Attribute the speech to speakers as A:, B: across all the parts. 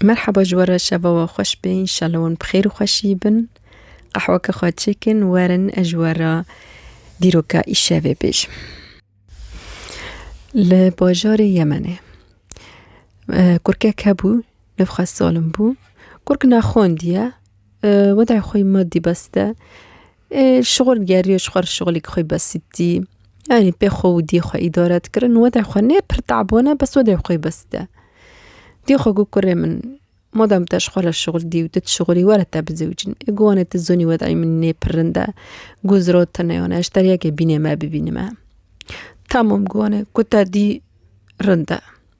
A: Merheba ji we re şeva we xweş be înşallah wan bi xêr û xweşî bin. Qehweke xwe çêkin werin ez ji we re dîroka îşevê bêjim. Li bajarê Yemenê kurkek hebû nû xwe salim bû. Kurk naxwendiye weda xwe madî bes de Şixul geriyo ji xwe re şixulek xwe besîtî. Yanî pê xwe û diyê xwe îdare dikirin û wede xwe nê pir tabone bes wede xwe besîte. Diyê xwe got kurê min madem te ji xwe re şixul dî û tu dişixulî were te bizewicin. Ê got wanê tu zonî wedayê min nê pir rind e. Got zira te neyane ez ji te re yekê bînê me bibînime. Tamam got wanê ku te dî rind e.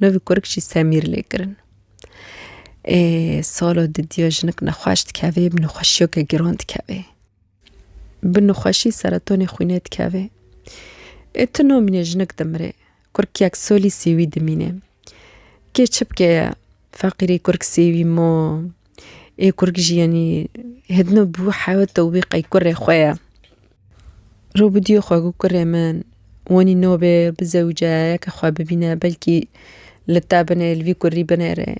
A: Novî kurik jî semîr lê kirin. Ê salo didiya jinik nexweş dikevê, bi nexweşiyeke giran dikevê. Bi nexweşî seretonê xwînê dikevê. Ê tu nomînê jinik dimirê. Kurikek solî sêwî dimînê. Kê çi bike ye? Feqîrî kurik sêwî mo. Ê kurg jî yanî hêdino bû hewt û wî qey kurê xwe ye. Rû bidîyo xwe ku kurê min wanî nobê bizewce yeke xwe bibîne belkî li te binê li vî kurî binêrê.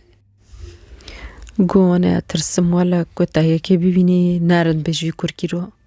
A: Got wana tirsim wele ku te yekê bibînî nerind be ji vî kurkî re.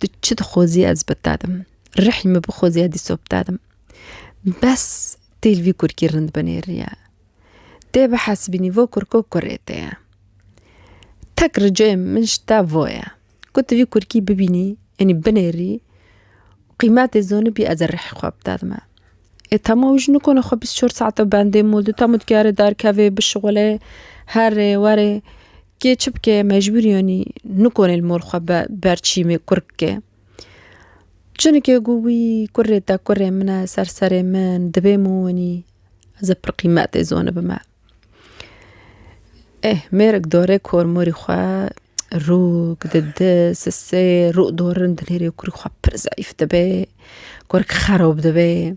A: Tu çi dixwazî ez bi te dim. Rihî min bixwazî ez dîsa bi te dim. Bes tê li vî kurkî rind binêriye. Tê bihesibînî vo kurko kurê te ye. Tek ricayê min ji te vo ye. Ku tu vî kurkî bibînî yanî binêrî qîmetê zanibî ez ê rihê xwe bi te dime. Ê tema wî jî nikane xwe bîst û çar saetan bendê mol de. Tema dikare derkevê bişuxulê herê werê Kê çi bike mecbûr yanî nikonê li mor xwe be ber çîmê kur bike. Cinike got wî kurê te kurê min e ser serê min dibê min winî ez ê pir qîmetê zonê bime. Ê mêrik dorê kormorî xwe rûk di di sisê rû dorin dinêrê kurî xwe pir zeyf dibê kurk xerob dibê.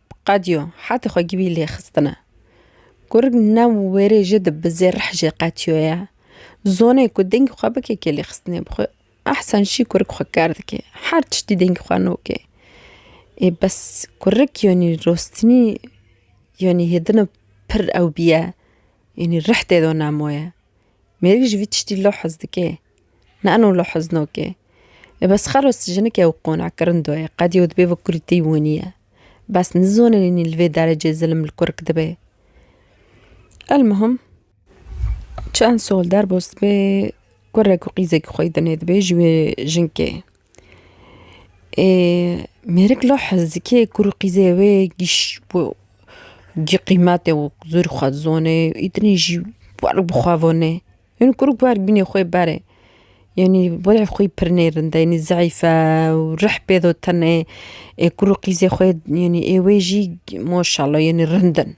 A: Qediyo, hetê xwe gibî lê xistine. Kurg ne wêrê jê di bi zê rih jê qetiyo ye. Zonê ku dengî xwe bike kê lê xistinê bi xwe. Ehsen şî kurg xwe ker dike. Her tiştî dengî xwe nokê. Ê bes kurg yanî rostinî yanî hêdina pir ew bîye. Yanî rih tê de nemo ye. Mêrik ji vî tiştî lewh hez dike. Nano li Huznokê e bes xero jinik e û qona kirindo ye, qedî û dibê bi kurîtî winiye. Bes nizonînî li vê derecê zilim li kurk dibe. Elmuhim çend sal derbas dibe kurek û qîzekî xwe dine dibe ji wê jinkê. Ê mêrik la hezikê kur û qîzê wê qîmetê û zor xwe dizanê, îdinê jî werg bi xwe vanê. Hin kur guher bînê xwe berê. Yanî were xwe pir nêrind e yanî zeîf e û rih pê do tene. Ê kur û qîzê xwe yanî ê wê jî maşallah yanî rind in.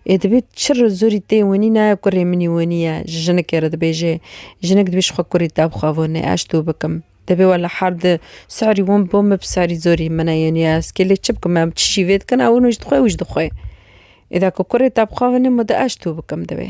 A: Ê dibê çi re zorî tê winî ne kurê min î winî ye ji jinekê re dibêje. Jinek dibê ji xwe kurê te bixwe vane ez ji to bikim. Dibê wela her di serî wan bo min bi serî zorî min e yanî ez kê lê çi bikim em çi şîvê dikin ew wina ji dixwe ew ji dixwe. Ê de ku kurê te bixwe vane ma de ez ji to bikim divê.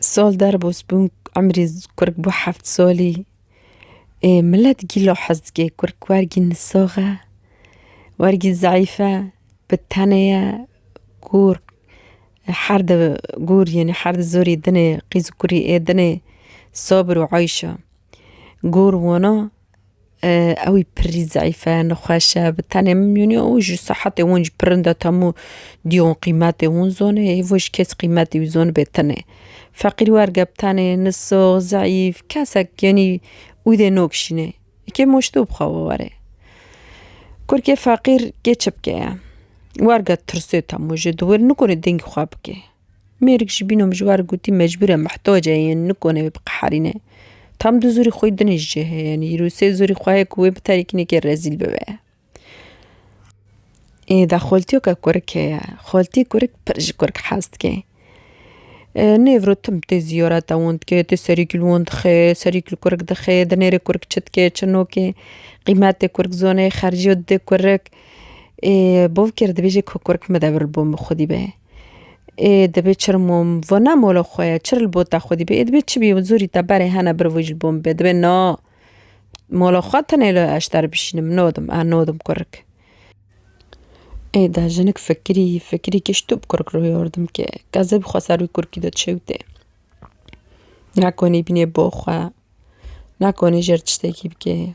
A: Sol derbos bûn emrî kurk bû heft solî. Ê milet gîlo hez dike kurk wergî nisox e, wergî zayîf e, bi tenê ye, gûr her di gûr yên her di zorî dinê qîz û kurî ê dinê sobir û eyş e. Gor wana ew ê pirrî zeîfe nexweşe bi tenê min mîyûnê û ji sehetê wan ji pirinde temû dîyon qîmetê wan zonê hêvo ji kes qîmetê wî zon bê tenê feqîr werge bi tenê nisok zeîf kesek yanî wî dê nokşînê yekê moşto bixawe were kurkê feqîr kê çi bike ye werge tirsê temû ji dû wir nikare dengê xwe bike. Mêrik jî bîno mijwar gotî mecbûr e mihtac e yên nikone wê biqeherîne. Tam du zorî xwe din ji cê heye yanî îro sê zorî xwe heye ku wê bi terikînekê rezîl bibe. Ê de xaltiyeke kurik heye, xaltiyê kurik pir ji kurik hez dike. Nêv ro tim tê ziyareta wan dike tê serî li wan dixe serî li kurik dixe di nêrê kurik çi dike çi nake qîmetê kurik zane xerciyat dide kurik. Ê bavkê re dibêje ku kurik mede vir li bo min xwedî be. Ê dibê çi rmo vo ne mola xwe ye, çi rlbo te xwedî bê, ê dibê çi bî zûrî te berê hene bir vujil bo min bê, dibê na mola xwe tenê li eşter bişînim, nadim a nadim kurik. Ê de jinik fikirî fikirî kişto bi kurik re yardim ke, ke zeb xwe ser wî kurikî de çewtê. Nekonî bînê bo xwe, nekonî jêr tiştekî bikê.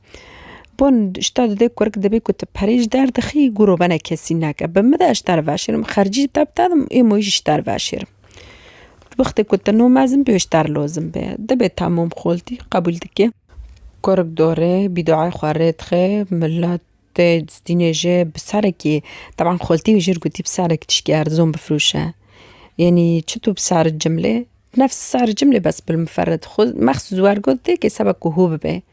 A: Bon şta di dê kurk dibê ku tu perê ji der dixî guro bene kesî neke. Bi min de ji ter veşêrim xercî te bi te didim ê moyî jî ji ter veşêrim. Di wextê ku tu no mezin bê û ji ter lozim bê dibê temûm xoltî qebûl dike. Kurk dore bî duayê xwe rê dixe miletê dînê jê bi serekî teban xoltî jir gotî bi serek tiştî erzon bifirûşe. Yanî çi tu bi ser cimlê nefs ser cimlê bes bil miferit xwe mexsûs wergotê kê sebe ku hû bibe.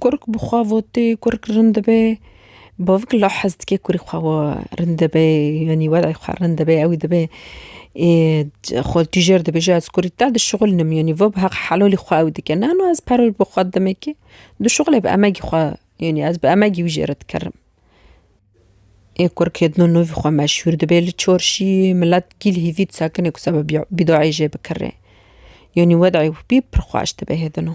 A: Kurk bi xwe votê kurk rind dibe, bavik la hez dike kurê xwe rind dibe yanî welay xwe rind dibe ew ê dibe ê xwe tu jêr dibêje ez kurî te dişixulinim yanî va bi heq helalî xwe ew dike nano ez peroj bi xwe demekê dişuxile bi emegî xwe yanî ez bi emegî wî jê re dikerim. Ê kurk ê dino navî xwe meşhûr dibe li çarşî milet kîl hêvî disekine ku seba bîdayê jê bikire yanî wedayê wî pir xweş dibe hê dino.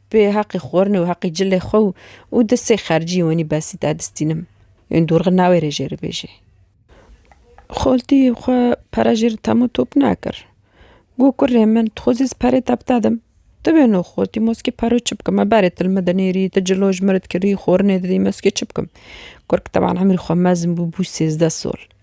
A: Bi heqê xwarinê û heqê cilê xwe û û di sê xercî wenî besî de distînim. Yên dorxî navê rê jê re bêjê. Xaltî xwe pere jê re temo top nekir. Got kurê min tu xwe zî ez perê te bidedim. Tu bêno xaltî moskê pero çi bikim. Me berê tu li min dinêrî, tu cilo ji min re dikirî, xwarinê didî moskê çi bikim. Kurk teban emrî xwe mezin bû, bû sêzdeh sal.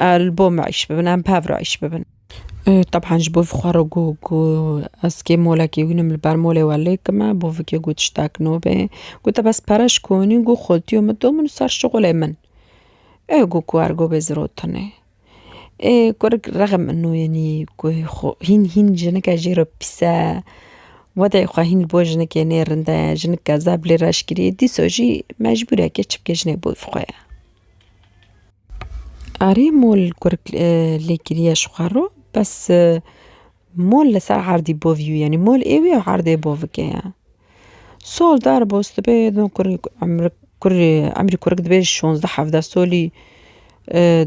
A: Li bo me îş bibin, em bi hev re îş bibin. Tebhan ji bo xwe re got ku ez kê molekî hûnim li ber molê we lê kime, bo vikê got tiştek nobê. Got te bes pere ji konî got xwetiyo min to min û ser şixulê min. Ê got ku ergo bê zirotinê. Ê kurik rexm min wînî ku xwe hîn hîn jinike jê re pîs e. Wedê xwe hîn li bo jinikê nê rind e, jinik kezeb lê reşkirî dîsa jî mecbûr e kê çi bike jinê bi xwe ye. Arê mol kurek lê kiriye ji xwe re bes mol li ser erdî bo vî yanî mol ê wî erdê bo vike ye. Sol dar bo sibê no kurek emrik kurê emrî kurek dibê şonzde hevde solî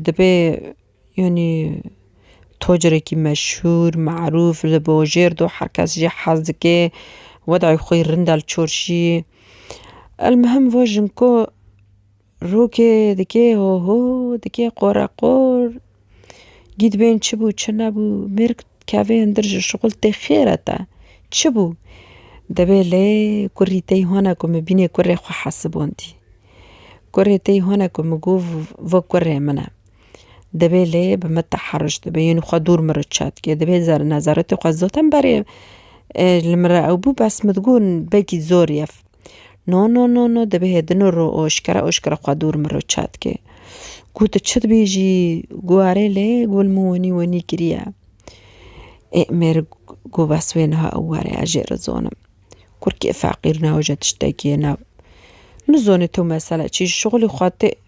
A: dibê yanî tocerekî meşhûr merûf li bo jêr do her kes jê hez dike wedayê xwe yê rind e li çorşî. Elmuhim va jinko. Rokê dikê ho ho, dikê qore qor. Gîd bên çi bû çi nebû, mêrg dikeve hundir ji şixul tê xêre te. Çi bû? Dibê lê kurî tey hone ku min bînê kurê xwe hesibandî. Kurê tey hone ku min got vê kurê min e. Dibê lê bi min teherruş dibe yên xwe dûr min re çêt dike. Dibê nezaretê xwe zaten berê li min re ew bû bes min digot belkî zor ye. No no no no dibê hê dino ro oşkera oşkera xwe dûr min ro çat ke. Ku tu çi dibêjî ku arê lê ku min wenî wenî kiriye. Ê mêr ku bes wê niha ew were ez jê re zonim. Kurkê feqîr ne oje tiştekî ye ne. Nizonê tu mesela çi ji şixulê xwe tê.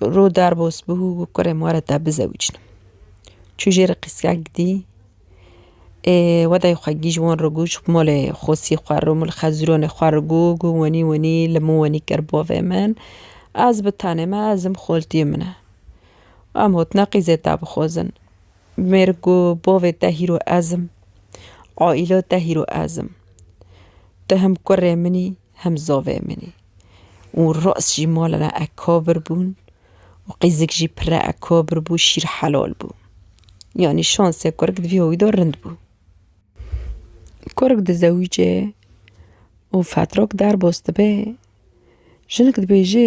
A: Ro dar bos bû û kurê ma re te bizewicînim. Çû jê re qîskek dî ê wedayê xwe gîj wan re goş malê xosî xwe re mal xezironê xwe re got got wenî wenî li min wenî kir bavê min ez bi tenê me ez im xoltiyê min e. Em hotine qîzê te bixwazin. Mêrik got bavê te hîro ez im, aîla te hîro ez im. Ti him kurê min î. hem zovê min e û rast jî mala me ekabir bûn û qîzik jî pire ekabir bû şîr helal bû. Yanî şansê kurik di vî hoyî de rind bû. Kurik dizewîce û fetrok derbas dibe jinik dibêje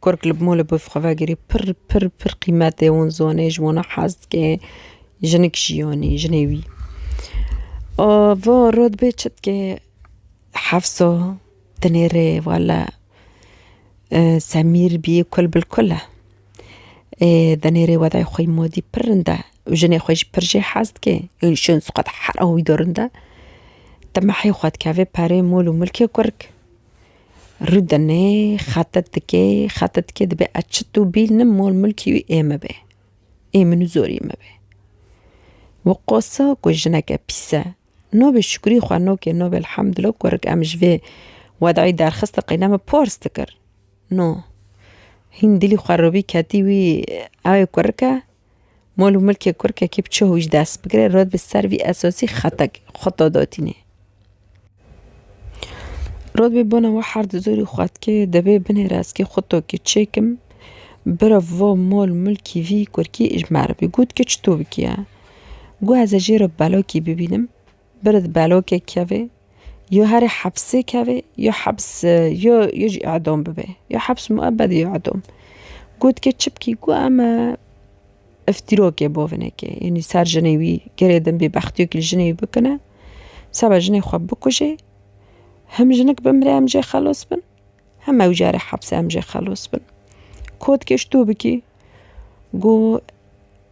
A: Kurk li mol û bi xwe vegirî pir pir pir qîmetê wan zanê ji wan hez dike jinik jiyanê jinê wî va rû dibê çi dike hefsa tenê rê wele semîr bî kul bil kul e tenê rê wedayê xwe yî madî pir rind e û jinê xwe jî pir jê hez dike hera wî de rind e te mehê xwe dikeve perê mol û milkê kurk Rûdine, xetet dike, xetet dike dibe ez çit û bîl nim mol milkî wî ê min be. Ê min û zorî min be. Wi qosa ku jineke pîs e. Navê şikurî xwe nake navê elhamdullah ku rek em ji vê wedayî derxistin qeyna min pars dikir. No, hîn dilî xwe robî ketî wî ew ê ku rike Mol û milkê kurkekî bi çi hûîş dest bigire rod bi ser vî esosî xetekê xwe to dotînê. Rod bi bona we her di zorî xwe dike dibê binê reskê xwe to ki çêk im bira vo mol milkî vî kurkî îj merivî. Got ki çi to bikî ya? Got ez ê jê re belokî bibînim. Bird belokê kevê, yo herê hepsê kevê, yo heps yo yo jî edom bibê. Yo heps muebed yo edom. Got ke çipkî ku em iftîrokê bo vinekê yenî ser jinê wî gerê din bêbextiyokî li jinê wî bikine seba jinê xwe bikujê him jinik bimire em jê xelos bin him ew jî erê hepsê em jê xelos bin. Kotkê ji to bikî got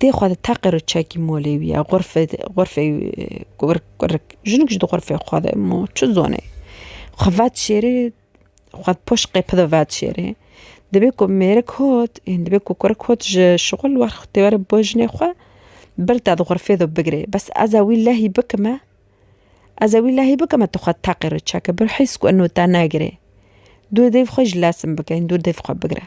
A: Tê xwe de teqir û çekî molê wî ye. Xurfe xurfê kurik kurik. Jinik ji di xurfê xwe de ma çi zonê. Xwe vet şêrê xwe di poşt qêpi de vet şêrê. Dibê ku mêrik hot ên dibê ku kurik hot ji şixul wex tê were bo jinê xwe bir te di xurfê de bigirê. Bes ez e wî lehî bikime ez e wî lehî bikime tu xwe teqir û çeke. Bi hîs ku ino te negirê. Dû dêv xwe ji lesin bike ên dû dêv xwe bigire.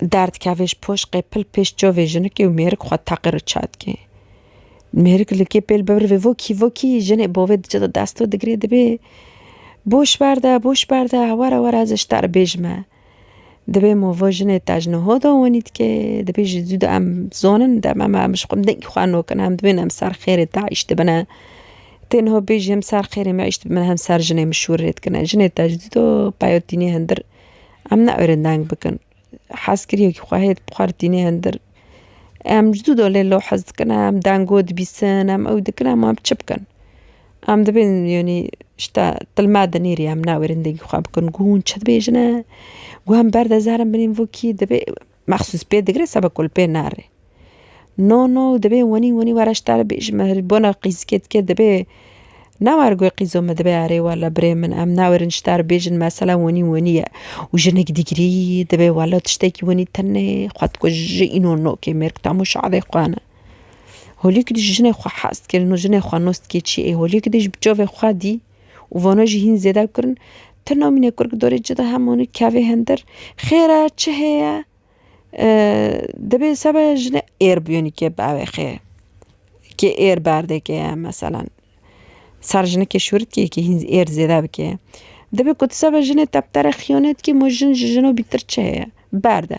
A: Derd kevê ji poş qê pil pêş çovê jinikê û mêrik xwe teqir û çar dike. Mêrik li kê pêl bibirivê vokî vokî jinê bovê diçe di dest û digirê dibê Boş berde, boş berde, were were ez ji te re bêj me. Dibê movo jinê te ji niho de wanî dike, dibê ji zû de em zonin dem em em ji xwe dengî xwe nokin em dibên em ser xêrê te îş dibine. Tê niho bêjî hem ser xêrê me îş dibine hem ser jinê min şûr rê dikine. Jinê te ji dû de peyotînê hindir Em ne erê deng bikin. Hezkiriyekî xwe hê bi xwe re tîne hindir. Em ji dû dolê lo hez dikin em dengo dibîsin em ew dikin em wan çi bikin. Em dibên yanî şita tilme de nêrî em ne erê dengî xwe bikin. Gu hûn çi dibêjine? Gu em berde zer in binên vokî dibê Mexsûs pê digre seba ku li pê nare. No no divê wenî wenî were ji te re bêjim me li bona qîzikê dike divê ne were guhê qîzo me divê erê wela birê min em nawerin ji te re bêjin mesela wenî wenî ye û jinik digirî divê wela tiştekî wenî tenê xwe dikuje îno no kê mêr ku tam û şadê xwe ne. Holî ku dijî jinê xwe hez dike no jinê xwe nos dike çiyê holî ku dijî bi çavê xwe dî û vana jî hîn zêde kur in. Ti namîne kur ki dorê ci de hem honi kevê hindir. Xêr e, çi heye? Dibê sebe jinê êr bûyeni kê biewê xê. Kê êr berdê kê ye meselen. Ser jinikê şûrit kê kê hîn êr zêde bikê. Dibê ku ti sebe jinê teptere xiyanet kî, ma jin ji jino bîtir çi heye? Berde.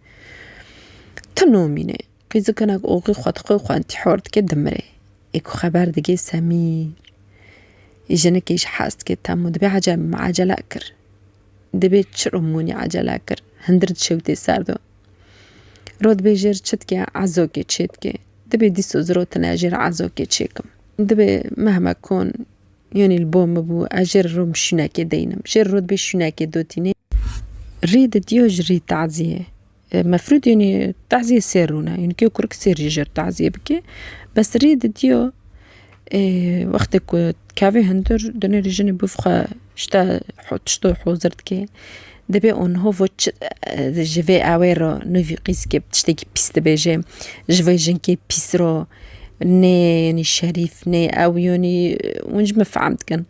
A: Ti nomîne, qîzikinek oxî xwe dixwe û xwe întîhar dike dimire. Ê ku xeber digê Semîr, jinikê ji hez dike temû dibê ece ecele kir. Dibê çiro mûnê ecele kir, hundir dişewitê ser do. Rot bê jêr çi dike ezokê çê dike. Dibê dîso zirotine jêr ezokê çê kim. Dibê mehme kon Yanî li bo min bû ez jê re rûm şûnekê deynim. Jê re rû dibê şûnekê dotî nê. Rê di diyo ji rî taziyê. Mefrûd yanî taziyê sêr rûne. Yanî kê kurik sêr jî jer taziyê bike. Bes rê di diyo wextê ku kevê hundir dinê rî jinê bif xwe ji te tiştê hozir dike. Dibê Onhovo çi ji vê awê re nûvî qîzikê bi tiştekî pîs dibêje, ji vê jinkê pîs re nê yanî şerîf nê ew yanî hûn ji min fehm dikin.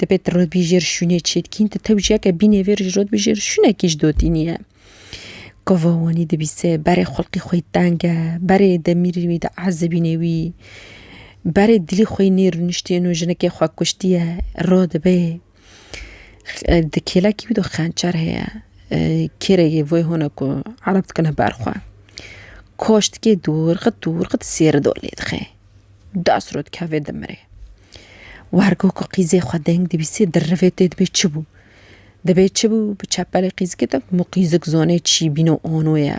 A: Dibê tu rotbîjêr şûnê çê dikîn tu tewjiyeke bînê vê roj rotbîjêr şûnekî ji dotî nîye. Gava wanî dibîse berê xulqê xwe yê teng e, berê demîrê wî di ezibînê wî, berê dilê xwe yê nê rûniştê no jinekê xwekuştiye radibe. Di kêlekî wî de xençer heye. Kêrê yê vê hûn e ku ereb dikine ber xwe. Koştikê dûr xit dûr xit sêri dor lê dixe. Dest rû dikeve dimire. Wer ku ku qîzê xwe deng dibîse di rivê tê dibê çi bû? Dibê çi bû bi çepelê qîzikê de ku qîzik zonê çî bîno ono ye.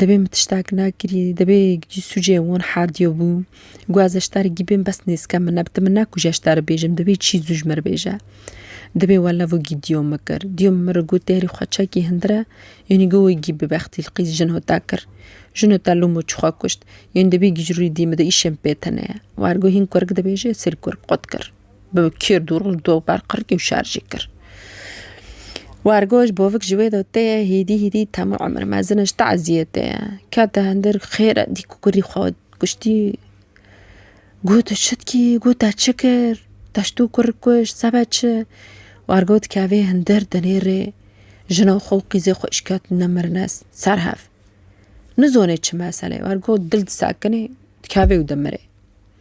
A: Debê min tiştek nekirî, debê gidî sûcê wan herdîyo bû. Gu ez eşterê gî bêm bes nêzken min neb. Ti min nekû ji eşterê bêjim, dibê çî zû ji min re bêje. Dibê welevo gî dîyo min kir. Dîyo min re gu tehrî xwe çekî hindir e, yanî gu wê gî bi bextî li qîz jino te kir. Jino te lûmo çi xwe kuşt. Yanî dibê gî ji rûyê dî min de îşên pê tune ye. War gu hîn kurk dibêje, sêr kurk qut kir. bi kir dûr li dû ber qirkî û şer jî kir. Wergoş bovik ji wê de tê ye hîdî hîdî temû emir mezin ji te eziyetê ye. Kete hindir xêr e dî ku kurî xwe kuştî. Got tu çi dikî got te çi kir te ji dû kur kuş sebe çi. Wergo dikevê hindir di nêrê jina xwe û qîzê xwe îşketine mirine ser hev. Nizonê çi meselê wergo dil disekinê dikevê û dimirê.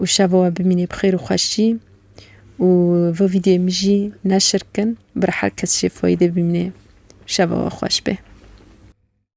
A: û şeva we bimînî bi xêr û xweşî û vê vîdyoyê min jî neşir kin bir her kes jê fayîdê bimînê şeva we xweş bê.